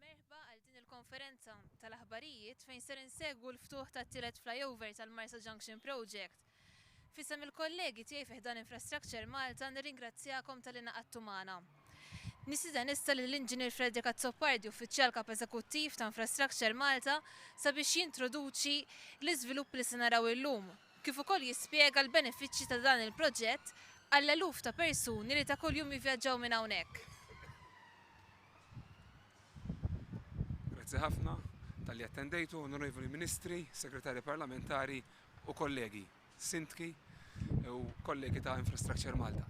Merħba għal din il-konferenza tal-aħbarijiet fejn ser insegwu l-ftuħ tat-tielet flyover tal-Marsa Junction Project. F'isem il-kollegi tiegħi fi ħdan Infrastructure Malta nirringrazzjakom talli ngħaqadtu magħna. Nistieden issa lill-Inġinier Frederick Azzopardi, Uffiċjal Kap Eżekuttiv ta' Infrastructure Malta, sabiex jintroduċi l-iżviluppi li se naraw illum, kif ukoll jispjega l-benefiċċji ta' dan il-proġett għall-eluf ta' persuni li ta' kuljum jivvjaġġaw minn hawnhekk. Grazzi ħafna talli attendejtu, Onorevoli Ministri, Segretarji Parlamentari, u kollegi sindki u kollegi ta' Infrastructure Malta.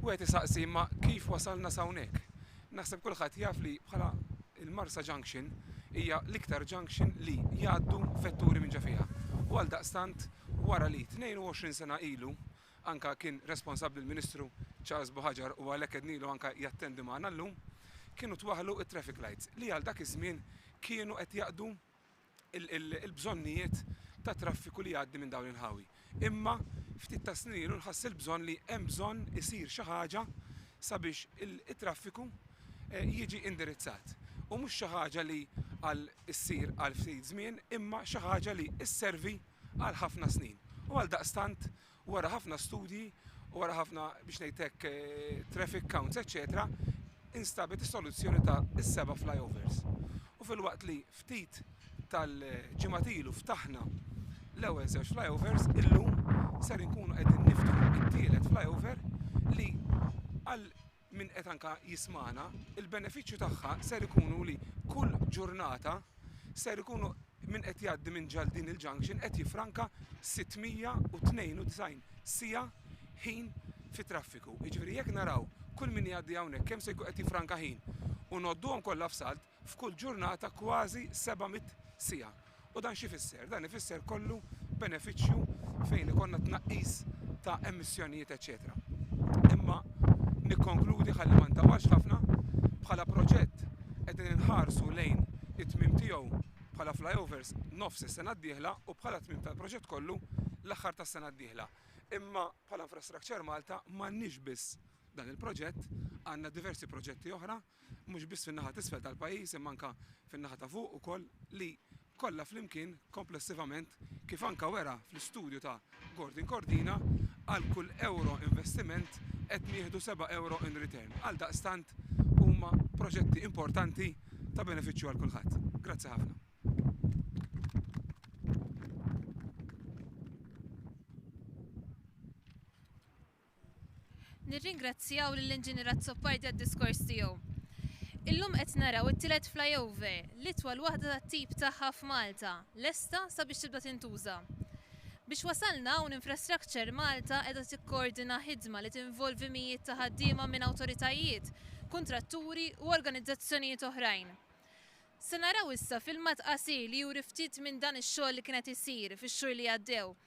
Wieħed isaqsi imma kif wasalna s'hawnhekk? Naħseb kulħadd jaf li bħala il-Marsa Junction hija l-iktar junction li jgħaddu vetturi minn ġo fiha. U għaldaqstant wara li 22 sena ilu anke kien responsabbli l-Ministru Charles Buhaġar u għalhekk għednilu anke jattendi magħna llum, kienu twaħħlu t-traffic lights li għal dak iż-żmien kienu qed jaqdu il-bżonnijiet tat-traffiku li jgħaddi minn dawn il-ħawi. Imma ftit tas-snin ilu nħass il-bżonn li hemm bżonn isir xi ħaġa sabiex it-traffiku jiġi indirizzat. U mhux xi ħaġa li għal issir għal ftit żmien imma xi ħaġa li sservi għal ħafna snin. U għaldaqstant Wara ħafna studji u wara ħafna, biex ngħid hekk, traffic counts eċċetera, instabet is-soluzzjoni ta' is-seba' flyovers. U filwaqt li ftit tal-ġimgħat ilu ftaħna l-ewwel żewġ flyovers, illum ser inkunu qegħdin niftħu t-tielet flyover li għal min qed anka jismagħna, il-benefiċċju tagħha ser ikunu li kull ġurnata ser ikunu min qed jgħaddi minn ġal din il-junction qed jiffranka 692 siegħa ħin fit-traffiku. Jiġifieri jekk naraw kull min jgħaddi hawnhekk kemm se jkun qed jiffranka ħin u ngħodduhom kollha f'salt, f'kull ġurnata kważi seba' mitt siegħa. U dan x'ifisser? Dan ifisser kollu benefiċċju fejn ikollna tnaqqis ta' emissjonijiet eċċetera. Imma nikkonkludi ħalli ma ntawwalx ħafna, bħala proġett qegħdin inħarsu lejn it-tmiem tiegħu bħala flyovers nofs is-sena d-dieħla u bħala tmiem tal-proġett kollu l-aħħar tas-sena d-dieħla. Imma bħala Infrastructure Malta m'għandniex biss dan il-proġett, għandna diversi proġetti oħra, mhux biss fin-naħa t'isfel tal-pajjiż imma anke fin-naħa ta' fuq ukoll, li kollha flimkien, komplessivament, kif anke wera fl-istudju ta' Gordon Cordina, għal kull ewro investiment qed nieħdu seba' ewro in return. Għaldaqstant, huma proġetti importanti ta' benefiċċju għal kulħadd. Grazzi ħafna. Nirringrazzjaw lill-Inġinier Azzopardi għad-diskors tiegħu. Illum qed naraw it-tielet flyover, l-itwal waħda tat-tip tagħha f'Malta, lesta sabiex tibda tintuża. Biex wasalna hawn Infrastructure Malta qiegħda tikkoordina ħidma li tinvolvi mijiet ta' ħaddiema minn awtoritajiet, kuntratturi u organizzazzjonijiet oħrajn. Se naraw issa filmat qasir li juri ftit minn dan ix-xogħol li kien qed isir fix-xhur li għaddew.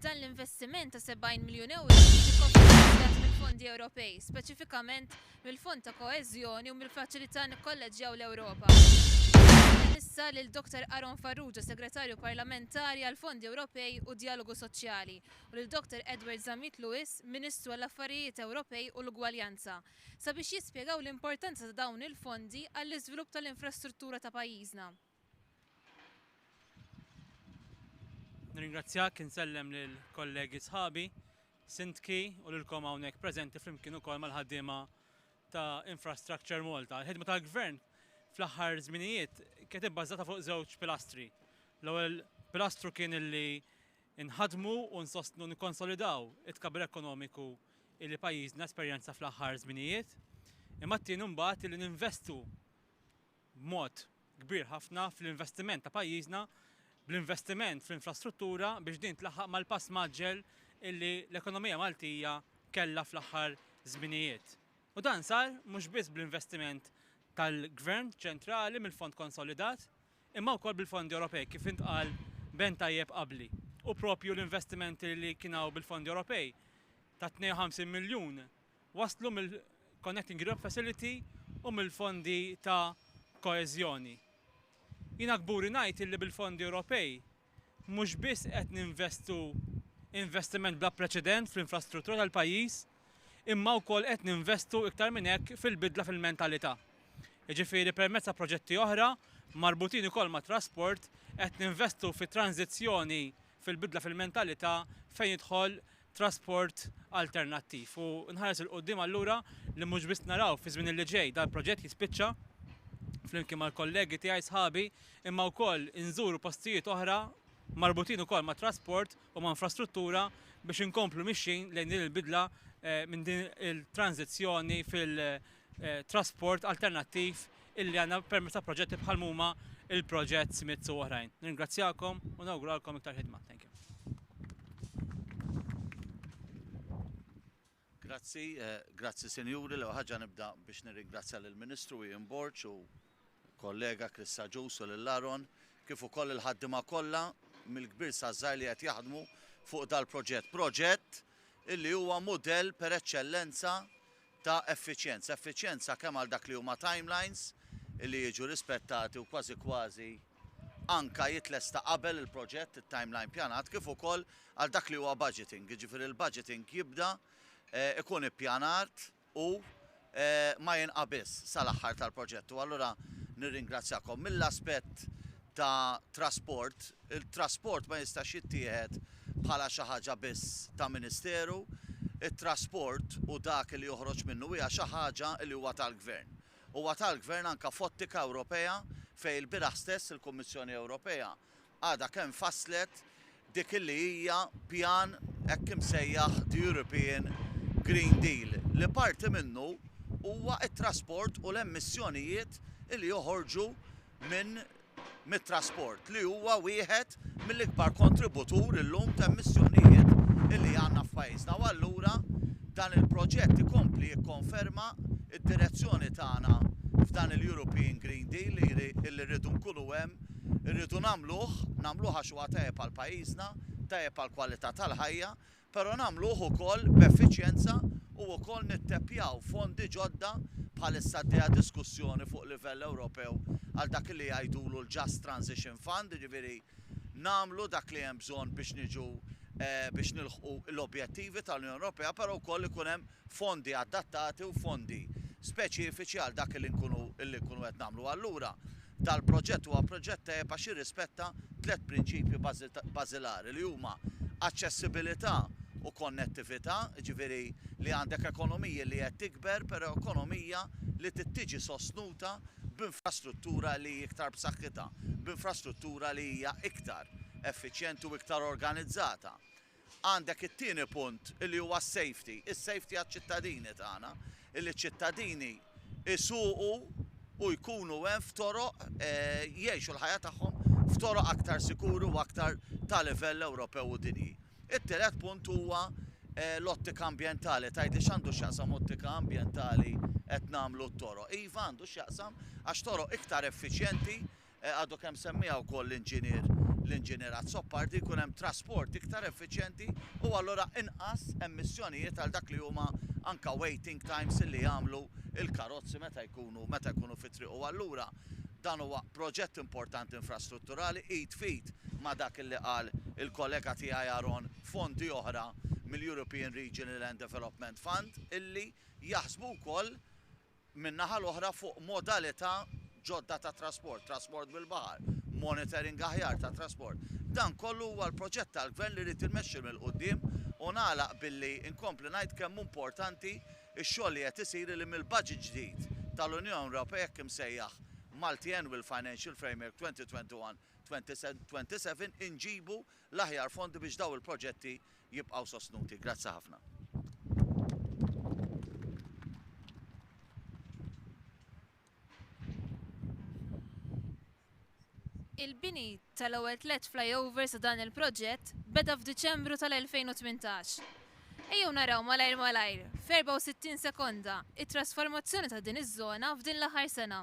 Dan l-investiment ta' 70 miljun euro jiġi kofinanzjat mill-fondi Ewropej, speċifikament mill-Fond ta' Koeżjoni u mill-Faċilità Nikkolleġġjaw l-Ewropa. Nagħti issa lil Dr. Aaron Farrugia, Segretarju Parlamentari għall-Fondi Ewropej u d-Djalogu Soċjali, u lil Dottor Edward Zammit Lewis, Ministru għall-Affarijiet Ewropej u l-Ugwaljanza, sabiex jispjegaw l-importanza ta' dawn il-fondi għall-iżvilupp tal-infrastruttura ta' pajjiżna. Nirringrazzjak, insellem lill-kollegi sħabi, Sindki u lilkom hawnhekk preżenti flimkien ukoll mal-ħaddiema ta' Infrastructure Malta. Il-ħidma tal-Gvern fl-aħħar żminijiet kienet ibbażata fuq żewġ pilastri. L-ewwel pilastru kien li Inħaddmu u nsostnu u nikkonsolidaw it-tkabbir ekonomiku illi pajjiżna esperjenza fl-aħħar żminijiet, imma t-tieni imbagħad illi ninvestu b'mod kbir ħafna fl-investiment ta' pajjiżna bl-investiment fl-infrastruttura biex din tlaħħaq mal-pass mgħaġġel illi l-ekonomija Maltija kellha fl-aħħar żminijiet. U dan sar mhux biss bl-investiment tal-Gvern ċentrali mill-Fond Konsolidat, imma wkoll bil-fondi Ewropej, kif intqal b'għen tajjeb qabli. U proprju l-investimenti li kien hawn bil-fondi Ewropej ta' 52 miljun waslu mill-Connecting Europe Facility u mill-fondi ta' koeżjoni. Jiena kburi ngħid illi bil-fondi Ewropej Mhux biss qed ninvestu investiment bla preċedent fl-infrastruttura tal-pajjiż, imma wkoll qed ninvestu iktar minn hekk fil-bidla fil-mentalità. Jiġifieri permezz ta' proġetti oħra, marbutin ukoll mat-trasport, qed ninvestu fit-tranżizzjoni fil-bidla fil-mentalità fejn jidħol trasport alternattiv u nħares 'il quddiem allura li mhux biss naraw fi żmien li ġej dal-proġett jispiċċa flimkien mal-kollegi tiegħi sħabi imma wkoll inżuru postijiet oħra marbutin ukoll ma' trasport u ma' infrastruttura biex inkomplu mixjin lejn din il-bidla eh, minn din il-tranżizzjoni fil- trasport alternattiv illi għandna permezz ta' proġetti bħal huma il-proġett Smith u oħrajn. Ningrazzjakom u nawguralkom iktar ħidma. Thank you. Grazzi, eh, grazzi Sinjuri, l ħaġa nibda biex nirringrazzja lill ministru Ian Borċ u kollega Chris Saġus u lil Laron kif ukoll il-ħaddima kollha mill-kbir sażżar li qed jaħdmu fuq dal-proġett. Proġett illi huwa mudell per eċċellenza ta' effiċjenza, effiċjenza kemm għal dak li huma timelines li jiġu rispettati u kważi kważi anke jitlesta qabel il-proġett, it-timeline pjanat, kif ukoll għal dak li huwa budgeting, jiġifieri l-budgeting jibda jkun ippjanat u ma jinqabiżx sal-aħħar tal-proġett. U allura nirringrazzjakom. Mill-aspett ta' trasport, It-trasport ma jistax jittieħed bħala xi ħaġa biss ta' ministeru. It-trasport u dak li joħroġ minnu hija xi ħaġa li huwa tal-gvern. Huwa tal-gvern anke f'ottika Ewropea fejn ilbieraħ stess il-Kummissjoni Ewropea għadha kemm fasslet dik li hija pjan hekk imsejjaħ The European Green Deal li parti minnu huwa t-trasport u l-emissjonijiet li joħorġu minn mit-trasport li huwa wieħed mill-ikbar kontributur illum t'emissjonijiet li għandna f'pajjiżna u allura dan il-proġett ikompli jikkonferma d-direzzjoni tagħna f'dan il-European Green Deal li li rridu nkunu hemm, irridu nagħmluh, nagħmluh għax huwa tajjeb għal pajjiżna, tajjeb għall-kwalità tal-ħajja, però nagħmluh ukoll b'effiċjenza u wkoll nitteppjaw fondi ġodda bħalissa għaddejja diskussjoni fuq livell Ewropew għal dak li jgħidulu l-Just Transition Fund, jiġifieri nagħmlu dak li hemm bżonn biex niġu biex nilħqu l-objettivi tal-Unjoni Ewropea però wkoll ikun hemm fondi adattati u fondi speċifiċi għal dak li nkunu li nkunu qed nagħmlu. Allura Dal-proġett huwa proġett tajjeb għax jirrispetta tliet prinċipji bażilari li huma aċċessibilità u konnettività, jiġifieri li għandek ekonomija li qed tikber però ekonomija li trid tiġi sostnuta b'infrastruttura li hi iktar b'saħħitha, b'infrastruttura li hija iktar effiċjenti u iktar organizzata. Għandek it-tieni punt li huwa s-safety, is-safety għaċ-ċittadini tagħna, illi ċ-ċittadini jsuqu u jkunu hemm f'toroq, jgħixu l-ħajja tagħhom f'toroq aktar sikuri u aktar ta' livell Ewropew u dinji. It-tielet punt huwa l-ottika ambjentali. Tgħidli x'għandu x'jaqsam ottika ambjentali qed nagħmlu t-toroq. Iva għandu x'jaqsam għax toroq iktar effiċjenti Għadu kemm semmiha wkoll l-Inġinier l-Inġinier Azzopardi, jkun hemm trasport iktar effiċjenti u allura inqas emissjonijiet għal dak li huma anke waiting times li jagħmlu l-karozzi meta jkunu meta jkunu fit-triq u allura dan huwa proġett importanti infrastrutturali id f'id ma' dak li qal il-kollega tiegħi Aaron fondi oħra mill-European Regional and Development Fund illi jaħsbu wkoll min-naħa l-oħra, fuq modalità ġodda ta' trasport, trasport bil-baħar, monitoring aħjar tat-trasport. Dan kollu huwa l-proġett tal-Gvern li rrid inmexxi 'l quddiem u nagħlaq billi nkompli ngħid kemm hu importanti x-xogħol li qed isir li mill-budget ġdid tal-Unjoni Ewropea hekk imsejjaħ Multiannual Financial Framework 2021-2027 inġibu l-aħjar fondi biex dawn il-proġetti jibqgħu sostnuti. Grazzi ħafna. Il-bini tal-ewwel tliet flyovers ta' dan il-proġett beda f'Diċembru tal-2018. Ejjew naraw malajr malajr, f'erbgħa u sittin sekonda, it-trasformazzjoni ta' din iż-żona f'din l-aħħar sena.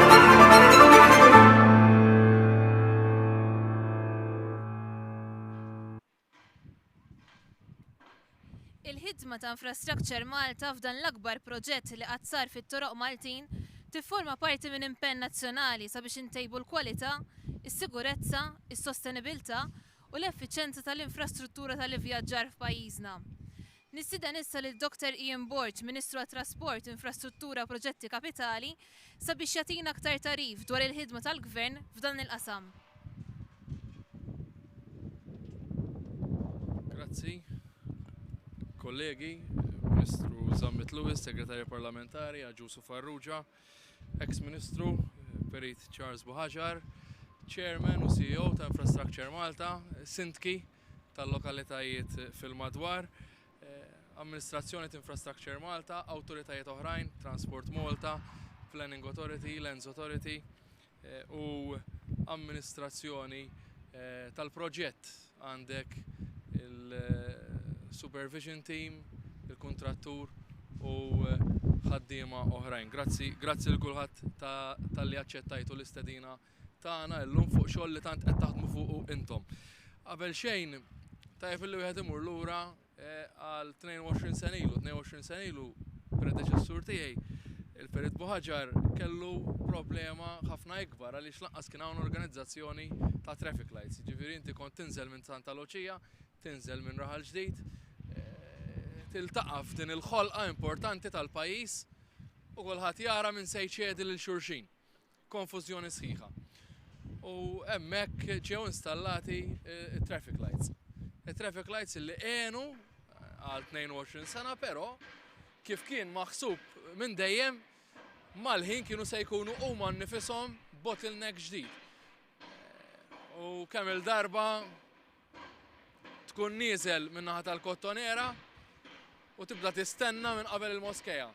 Il-ħidma ta' Infrastructure Malta f'dan l-akbar proġett li qatt sar fit-toroq Maltin tifforma parti minn impenn nazzjonali sabiex intejbu l-kwalità, is-sigurezza, is-sostenibilità u l-effiċenza tal-infrastruttura tal-ivvjaġġar f'pajjiżna. Nistieden issa lil Dr Ian Borg, Ministru għat-Trasport, Infrastruttura u Proġetti Kapitali, sabiex jagħtina aktar tagħrif dwar il-ħidma tal-Gvern f'dan il-qasam. Grazzi. Kollegi, Ministru Zammit Lewis, Segretarja Parlamentari, Agius u Farrugia, Eks Ministru, Perit Charles Buhagiar, Chairman u CEO ta' Infrastructure Malta, Sindki, tal-lokalitajiet fil-madwar, Amministrazzjoni t'Infrastructure Malta, awtoritajiet oħrajn, Transport Malta, Planning Authority, Lands Authority u amministrazzjoni tal-proġett, għandek il-supervision team, il-kuntrattur u ħaddiema oħrajn. Grazzi, grazzi lil kulħadd talli aċċettajtu l-istedina. tagħna illum fuq xogħol li tant qed taħdmu fuqu intom. Qabel xejn tajjeb illi wieħed imur lura eh, għal 22 sen ilu, 22 sen ilu predeċessur tiegħi il-Perit Buħaġar kellu problema ħafna ikbar għaliex lanqas kien hawn organizzazzjoni ta' traffic lights. Ġifieri inti kont tinżel minn Santa Luċija, tinżel minn Raħal Ġdid, eh, tiltaqa' f'din il-ħolqa importanti tal-pajjiż u kulħadd jara minn se jċedi lil xulxin. konfużjoni sħiħa. U hemmhekk ġew installati t-traffic lights. It-traffic lights li għenu għal 22 sena, però kif kien maħsub minn dejjem mal-ħin kienu se jkunu huma nifisom bottleneck ġdid. U kemm il-darba tkun nieżel min-naħa tal-kottonera u tibda tistenna minn qabel il-moskeja.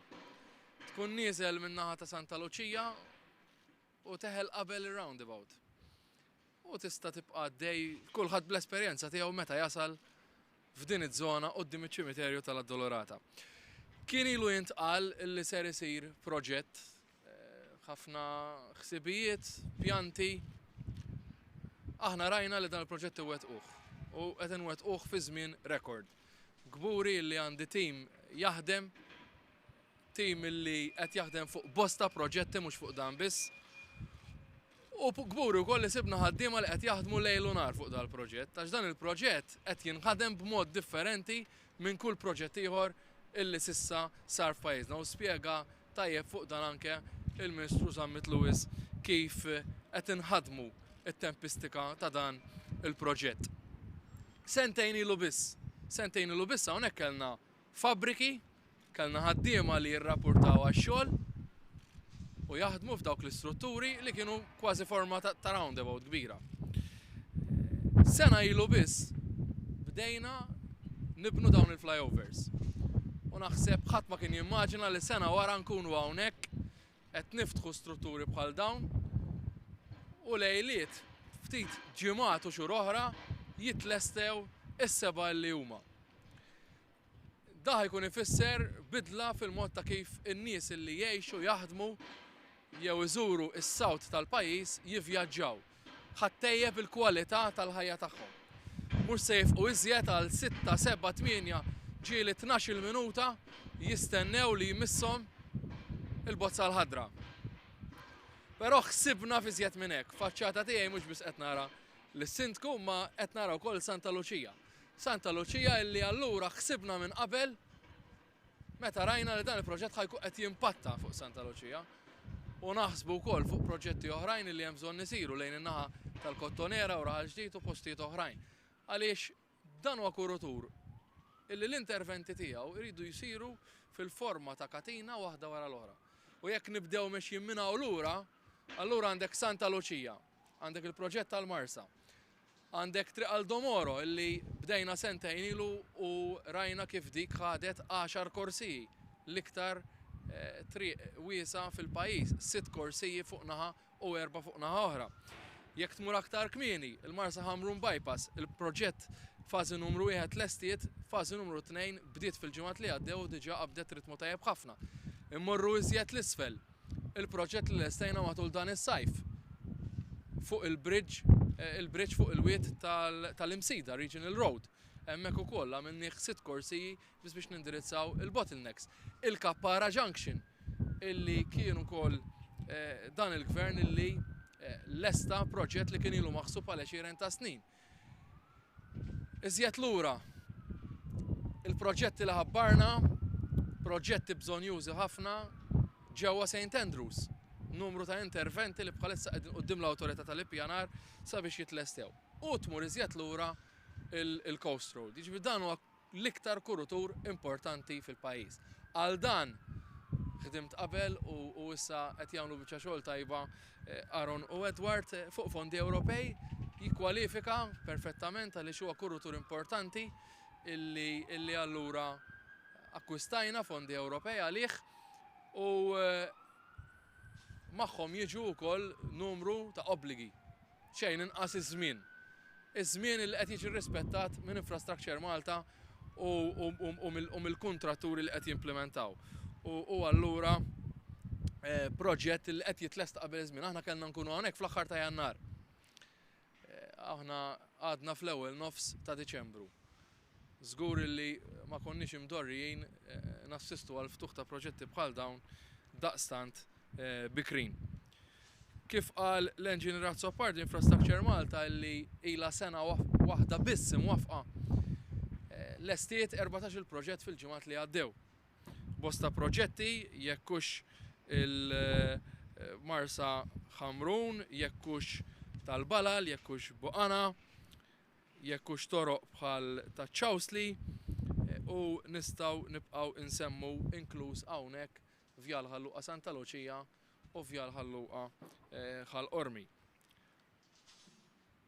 Tkun nieżel min-naħa ta' Santa Luċija u teħel qabel ir-roundabout. U tista' tibqa' għaddej kulħadd bl-esperjenza tiegħu meta jasal f'din iż-żona quddiem iċ-ċimiterju tal-Addolorata. Kien ilu jintqal li ser isir proġett, ħafna ħsibijiet, pjanti. Aħna rajna li dan il-proġett iwettquh u qed inwettquh fi żmien rekord. Kburi li għandi tim jaħdem Tim li qed jaħdem fuq bosta proġetti mhux fuq dan biss. U kburi wkoll li sibna ħaddiema li qed jaħdmu lejl u nhar fuq dal-proġett għax dan il-proġett qed jinħadem b'mod differenti minn kull proġett ieħor illi s'issa sar f'pajjiżna u spjega tajjeb fuq dan anke il-Ministru Zammit Lewis kif qed inħaddmu t-tempistika ta' dan il-proġett. Sentejn ilu biss, sentejn ilu biss hawnhekk kellna Fabbriki, kellna ħaddiema li jirrappurtaw għax-xogħol u jaħdmu f'dawk l-istrutturi li kienu kważi forma ta' roundabout kbira. Sena ilu biss bdejna nibnu dawn il-flyovers u naħseb ħadd ma kien jimmaġina li sena wara nkunu hawnhekk Qed niftħu strutturi bħal dawn u lejliet, ftit ġimgħat u xhur oħra jitlestew is-seba' li huma. Dah jkun ifisser bidla fil-mod ta' kif in-nies li jgħixu, jaħdmu jew iżuru s-South tal-pajjiż jivvjaġġaw. ħa ttejjeb il-kwalità tal-ħajja tagħhom. Mhux se jifqu iżjed għal sitta, sebgħa, tmienja ġieli tnax-il minuta jistennew li jmisshom il-bozza l-ħadra. Però ħsibna f'iżjed minn hekk. Faċċata tiegħi mhux biss qed nara lis-Sindku ma qed nara wkoll Santa Luċija. Santa Luċija illi allura ħsibna minn qabel Meta rajna li dan il-proġett ħajkun qed jimpatta fuq Santa Luċija u naħsbu wkoll fuq proġetti oħrajn li hemm bżonn isiru lejn in-naħa tal-Kottonera u Raħal Ġdid u postijiet oħrajn. Għaliex dan huwa kurutur illi l-interventi tiegħu jridu jsiru fil-forma ta' katina waħda wara l-oħra. U jekk nibdew mexjin minn hawn lura, allura għandek Santa Luċija, għandek il-proġett tal-Marsa, Għandek Triq għal Domoro illi bdejna sentejn ilu u rajna kif dik ħadet għaxar korsiji, l-iktar triq wiesgħa fil-pajjiż, sitt korsiji fuq naħa u erbgħa fuq naħa oħra. Jekk tmur aktar kmieni, il-Marsaxamrun Bypass, il-proġett fażi numru wieħed tlestiet, fażi numru tnejn bdiet fil-ġimgħat li għaddew u diġà qabdet ritmu tajjeb ħafna. Immorru iżjed 'l isfel. il-proġett li lestejna matul dan is-sajf fuq il-bridge, eh, il-bridge fuq il-wied tal-Imsida, Regional Road. Hemmhekk ukoll għamilnieh sitt korsiji biss biex nindirizzaw il-bottlenecks. Il-Kappara Junction illi kien ukoll eh, dan il-gvern illi eh, lesta proġett li kien ilu maħsub għal 20 ta' snin. Iżjed lura, il-proġetti li ħabbarna, proġetti bżonjużi ħafna ġewwa Saint Andrews, numru ta' interventi li bħalissa qegħdin quddiem l-Awtorità tal-Ippjanar sabiex jitlestew. U tmur iżjed lura il-Coast Road. Jiġifieri dan huwa l-iktar kurutur importanti fil-pajjiż. Għal dan ħdimt qabel u issa qed jagħmlu biċċa xogħol tajba Aaron u Edward. Fuq fondi Ewropej jikkwalifika perfettament għaliex huwa kurutur importanti illi allura akkwistajna fondi Ewropej għalih u magħhom jiġu wkoll numru ta' obbligi. xejn inqas iż-żmien. Iż-żmien li qed jiġi rrispettat minn Infrastructure Malta u mill-kuntratturi li qed jimplimentaw. U allura proġett li qed jitlesta qabel iż-żmien. Aħna kellna nkunu hawnhekk fl-aħħar ta' Jannar. Aħna għadna fl-ewwel nofs ta' Diċembru. Żgur illi ma konniex imdorrijin nassistu għall-ftuħ ta' proġetti bħal dawn daqstant bikrin. Kif qal l-Engineer Azzopardi, Infrastructure Malta illi ilha sena waħda biss imwaffqa, lestiet erbatax-il proġett fil-ġimgħat li għaddew. Bosta proġetti, jekk hux il-Marsa Ħamrun, jekk hux tal-Balal, jekk hux Buqana, jekk hux toroq bħal taċ-Chowsley, u nistgħu nibqgħu insemmu inkluż hawnhekk Vjal Ħal Luqa Santa Luċija u Vjal Ħal Luqa Ħal Qormi.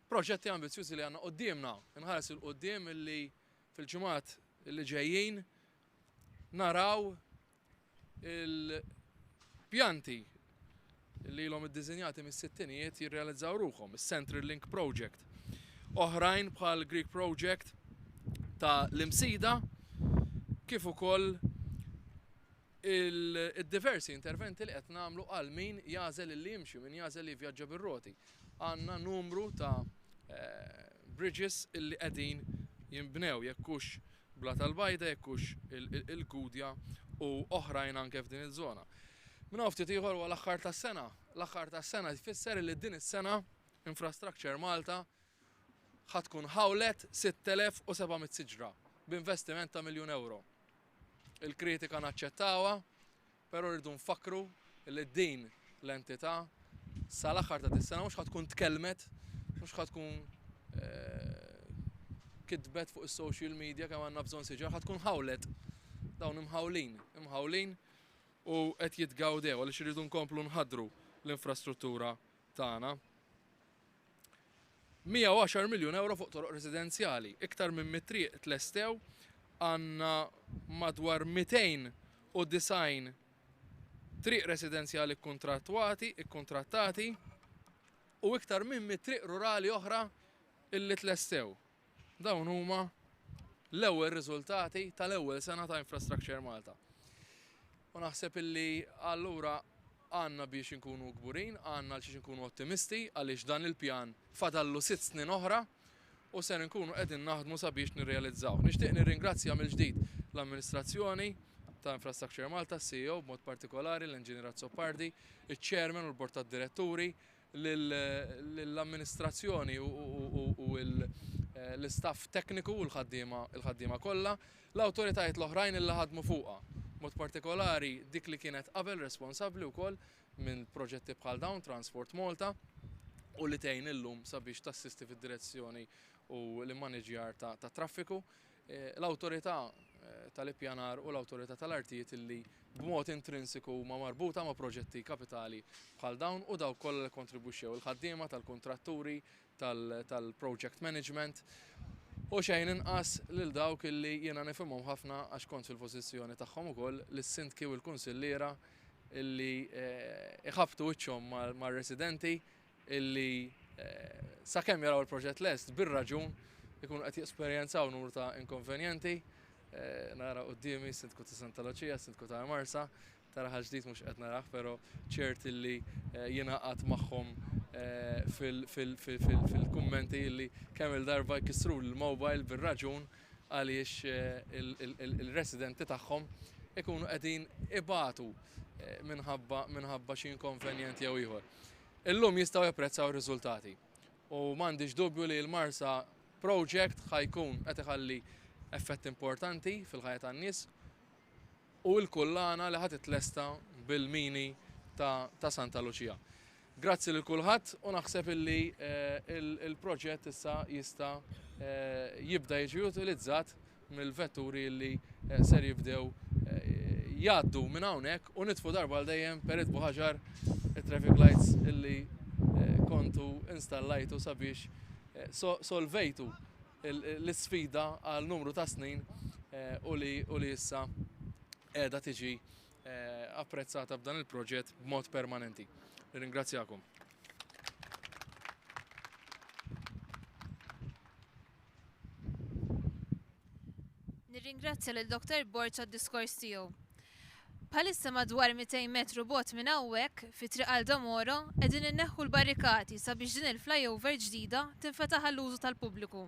Proġetti ambizzjużi li għandna quddiemna, inħares 'il quddiem illi fil-ġimgħat li ġejjin naraw Il-pjanti li ilhom iddiżinjati mis-sittinijiet jirrealizzaw ruħhom, is-Central Link Project. Oħrajn bħal Greek Project ta' l-Imsida kif ukoll il-diversi interventi li qed nagħmlu għal min jagħżel li jimxi, min jagħżel li jivvjaġġa bir-roti. Għandna numru ta' eh, bridges illi qegħdin jinbnew jekk hux Blat Albaida jekk hux il-Gudja u oħrajn anke f'din iż-żona. Minn hawn ftit ieħor huwa l-aħħar tas-sena. L-aħħar tas-sena jfisser li din is-sena Infrastructure Malta ħa tkun ħawlet 6,700 siġra b'investiment ta' miljun ewro. Il-kritika naċċettawha, Però rridu nfakkru li din l-entità sal-aħħar ta' dis-sena mhux ħa tkun tkellmet, mhux ħa tkun kitbet fuq is-social media kemm għandna bżonn siġar, ħa tkun ħawlet. Dawn imħawlin, imħawlin u qed jitgawdew għaliex irridu nkomplu nħaddru l-infrastruttura tagħna. 110 miljun ewro fuq toroq residenzjali, iktar minn 100 triq tlestew, għandna madwar 290 triq residenzjali kkuntrattwati, ikkuntrattati, u iktar minn 100 triq rurali oħra li tlestew. Dawn huma l-ewwel riżultati tal-ewwel sena ta' Infrastructure Malta. U naħseb illi allura għandna biex inkunu kburin, għandna għal xiex inkunu ottimisti għaliex dan il-pjan fadallu sitt snin oħra u ser inkunu qegħdin naħdmu sabiex nirrealizzawh. Nixtieq nirringrazzja mill-ġdid l-amministrazzjoni ta' Infrastructure Malta, s-CEO b'mod partikolari, l-Enġinier Azzopardi, iċ-Chairman u l-Bord tad-Diretturi, lill-amministrazzjoni u l-istaff tekniku u l-ħaddiema kollha, l-awtoritajiet l-oħrajn illi ħadmu fuqha, b'mod partikolari dik li kienet qabel responsabbli wkoll minn proġetti bħal dawn, Transport Malta, u li tgħin illum sabiex tassisti fid-direzzjoni u l-immaniġjar tat-traffiku. l-Awtorità tal-Ippjanar u l-Awtorità tal-Artijiet li b'mod intrinsiku huma marbuta ma' proġetti kapitali bħal dawn u dawk kollha li kkontribwixxew, il-ħaddiema tal-kuntratturi, tal-project management u xejn inqas lil dawk li jiena nifhimhom ħafna għax kont fil-pożizzjoni tagħhom ukoll, lis-sindki u l-kunsilliera li jħabbtu wiċċhom mar-residenti illi sakemm jaraw il-proġett lest bir-raġun ikunu qed jesperjenzaw numru ta' inkonvenjenti Eh, nara qoddimi sindku ta' Santa Lucia, sindku ta' Marsa, tara ħaġdit mux qed naraħ, pero ċert illi eh, jina għat maħħom eh, fil-kummenti illi kemm il-darba jkissru l-mobile bil-raġun għaliex il-residenti tagħhom ikunu qegħdin ibatu minħabba xi inkonvenjent jew ieħor. Illum jistgħu japprezzaw ir-riżultati u m'għandix dubju li l-Marsa Project ħa jkun qed iħalli effett importanti fil-ħajja tan-nies u l-kullana li ħa titlesta bil-mini ta' ta' Santa Luċija. Grazzi lil kulħadd u naħseb illi eh, il-proġett issa jista' eh, jibda jiġi utilizzat mill-vetturi li ser jibdew jgħaddu minn hawnhekk u nitfu darba għal dejjem Perit Buħaġar it-traffic lights illi kontu installajtu sabiex solvejtu l-isfida għal numru ta' snin u li issa qiegħda tiġi apprezzata b'dan il-proġett b'mod permanenti. Nirringrazzjakom. Nirringrazzja lil Dottor Borg għad-diskors tiegħu. Bħalissa madwar 200 metru bogħod minn hawnhekk, fi Triq Aldo Moro, qegħdin inneħħu l-barrikati sabiex din il-flyover ġdida tinfetaħ għall-użu tal-pubbliku.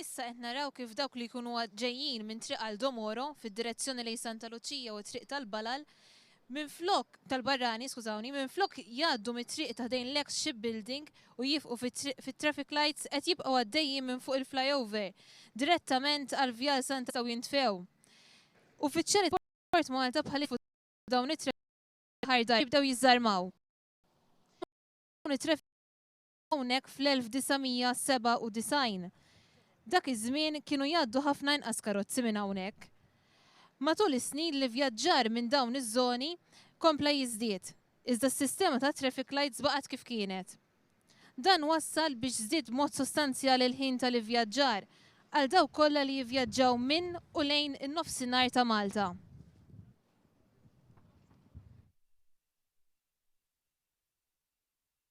Issa qed naraw kif dawk li jkunu ġejjin minn Triq Aldo Moro fid-direzzjoni lejn Santa Luċija u t-Triq tal-Balal Minflok, tal-barrani, skużawni, minflok jgħaddu mit-triq ta' ħdejn l-eks shipbuilding u jifqu fit-triq fit-traffic lights qed jibqgħu għaddejjin minn fuq il-flyover direttament għall-Vjal Santa u jintfew. Uffiċjali tal-Port Malta bħal jitfu dawn it-traffic lights ħar dar jibdew jiżżarmaw dawn it-traffic hawnhekk fl-1997. Dak iż-żmien kienu jgħaddu ħafna inqas karozzi minn hawnhekk. Matul is-snin l-ivvjaġġar minn dawn iż-żoni kompla jiżdied, iżda s-sistema tat-traffic lights baqgħet kif kienet. Dan wassal biex żdied b'mod sostanzjali l-ħin tal-ivvjaġġar għal dawk kollha li jivvjaġġaw minn u lejn in-Nofsinhar ta' Malta.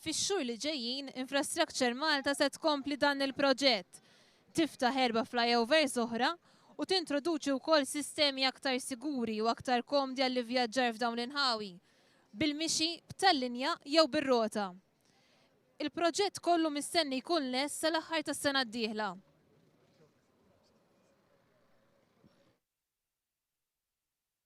Fix-xhur li ġejjin, Infrastructure Malta se tkompli dan il-proġett, tiftaħ erba' flyovers oħra u tintroduċi wkoll sistemi aktar siguri u aktar komdi għall-ivvjaġġar f'dawn l-inħawi, bil-mixi, b'tal-linja jew bir-rota. Il-proġett kollu mistenni jkun lest sal-aħħar tas-sena d-dieħla.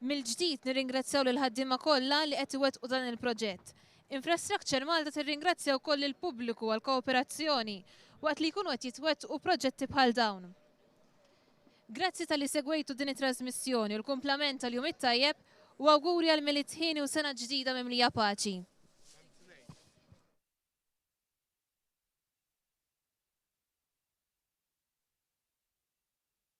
Mill-ġdid nirringrazzjaw lill-ħaddiema kollha li qed iwettqu dan il-proġett. Infrastructure Malta tirringrazzja wkoll lill-pubbliku għall-kooperazzjoni waqt li jkunu qed jitwettqu proġetti bħal dawn. Grazzi talli segwejtu din it-trasmissjoni u l-kumplament tal-jum it-tajjeb u awguri għal Milied hieni u sena ġdida mimlija paċi.